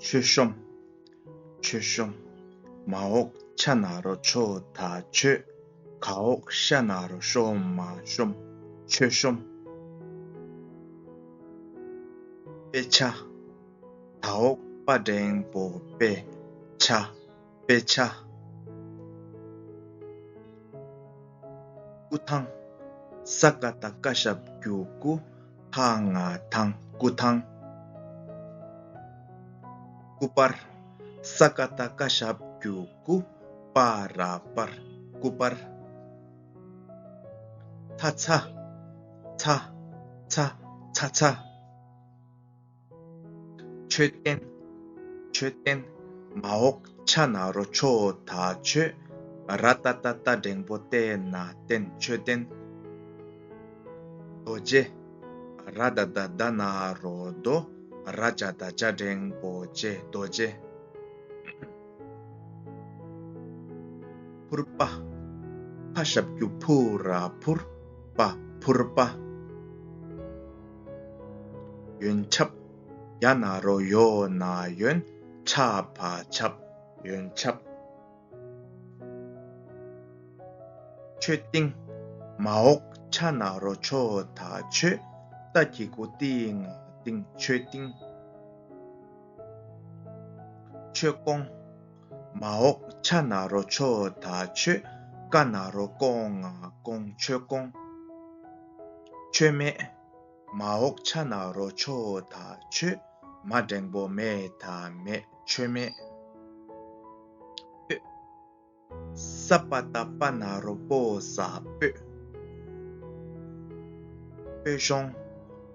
མཆོད་གཤོམ། མཆོད་གཤོམ། མ་འོག་ཕྱ་ན་རོ་མཆོད་ད་མཆོད། ག་འོག་ཤ་ན་རོ་གཤོམ་མ་གཤོམ། མཆོད་གཤོམ། དཔེ་ཆ། ད་འོག་དཔའ་འབྲེང་པོ་དཔེ་ཆ། དཔེ་ཆ། སྐུ་ཐང། ས་ག་དང་བཀའ་ཤག་བརྒྱུད་སྐུ་ཐ་ང་ཐང་སྐུ་ཐང། སྐུ་དཔར། ས་ག་དང་བཀའ་ཤག་བརྒྱུད་སྐུ་དཔའ་ར་དཔར་སྐུ་དཔར། ཚ་ཚ། ཚ་ཚ་ཚ་ཚ། མཆོད་རྟེན། མཆོད་རྟེན། མ་འོག་ཕྱག་ན་རོ་ཆོ་ད་མཆོད། ར་ཏཱ་ཏཱ་ཏཱ་སྒྲེང་པོ་རྟེ་ན་རྟེན་མཆོད་རྟེན། རྡོ་རྗེ། ར་ཏཱ་ཏཱ་ཏཱ་ན་རོ་རྡོ། ར་ཅ་ད་ཅ་སྒྲེང་པོ་ཅའི་རྡོ་རྗེ། ཕུར་པ། ཕ་ཞབས་ཀྱུ་ཕུ་ར་ཕུར་པ་ཕུར་པ། ཡོན་ཆབ། ཡ་ན་རོ་ཡོ་ན་ཡོན་ཆ་བ་ཆབ། ཡོན་ཆབ། ཆོས་ཏིང། མ་འོག་ཆ་ན་རོ་ཆོ་ད་ཆོས་ད་ཀྱི་དགུ་ཏིང་ང་ཏིང་ཆོས་ཏིང། ཆོས་སྐོང། མ་འོག་ཕྱ་ན་རོ་ཆོ་ད་ཆོས་ཀ་ན་རོ་སྐོང་ང་སྐོང་ཆོས་སྐོང། ཆོས་མེད། མ་འོག་ཕྱ་ན་རོ་ཆོ་ད་ཆོས་མ་འགྲེང་པོ་མེ་ད་མེད་ཆོས་མེད། སྤོད། ས་པ་ད་པ་ན་རོ་པོ་ས་སྤོད། སྤོད་ཤོང།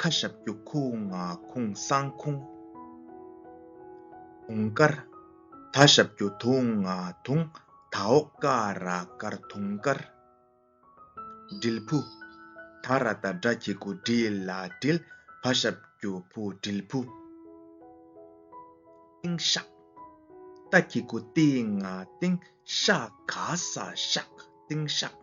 ཁ་ཞབས་རྒྱུག་ཁུང་ང་ཁུང་གསང་ཁུང། དུང་དཀར། ད་ཞབས་རྒྱུག་དུང་ང་དུང་ད་འོག་དཀར་ར་དཀར་དུང་དཀར། དྲིལ་བུ། ད་ར་ད་སྒྲ་ཁྱི་གུ་དྲིལ་ལ་དྲིལ་བ་ཞབས་རྒྱུག་བུ་དྲིལ་བུ། ཏིང་ཤག། ད་ཁྱི་གུ་ཏིང་ང་ཏིང་ཤག་ག་ས་ཤག་ཏིང་ཤག།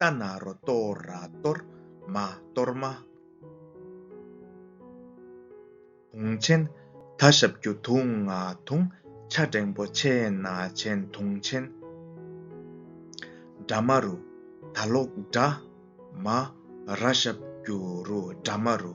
རྟ་ནག་རོ་གཏོར་ར་གཏོར་མ་གཏོར་མ། དུང་ཆེན་ད་ཞབས་རྒྱུ་དུང་ང་དུང་ཆ་སྒྲེང་པོ་ཆེ་ན་ཆེན་དུང་ཆེན། དགྲ་མ་རུ་ད་ལོག་དགྲ་མ་ར་ཞབས་རྒྱུ་རུ་དགྲ་མ་རུ།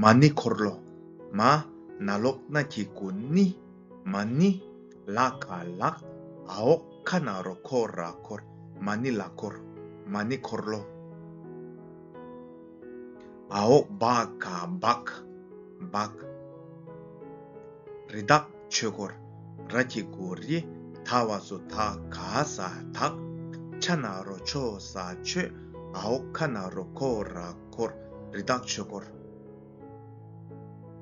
མ་ནི་འཁོར་ལོ་མ། ན་ལོག་སྣ་ཁྱི་དགུ་ནི། མ་ནི། ལ་ཁ་ལག། ཨོག་ཁ་ན་རོ་ཁོ་ར་འཁོར། མ་ནི་ལ་འཁོར། མ་ནི་འཁོར་ལོ། ཨོག་བ་ཁ་བག། བག། རི་དྭགས། ཆོས་སྐོར། ར་ཀྱི་གུ་རི་ད་བ་སུ་ད་ག་ས་དག། ཕྱ་ན་རོ་ཆོ་ས་ཆོས་ཨའོ་ཁ་ན་རོ་ཁོ་ར་ཁོ་རི་དག་ཆོས་སྐོར།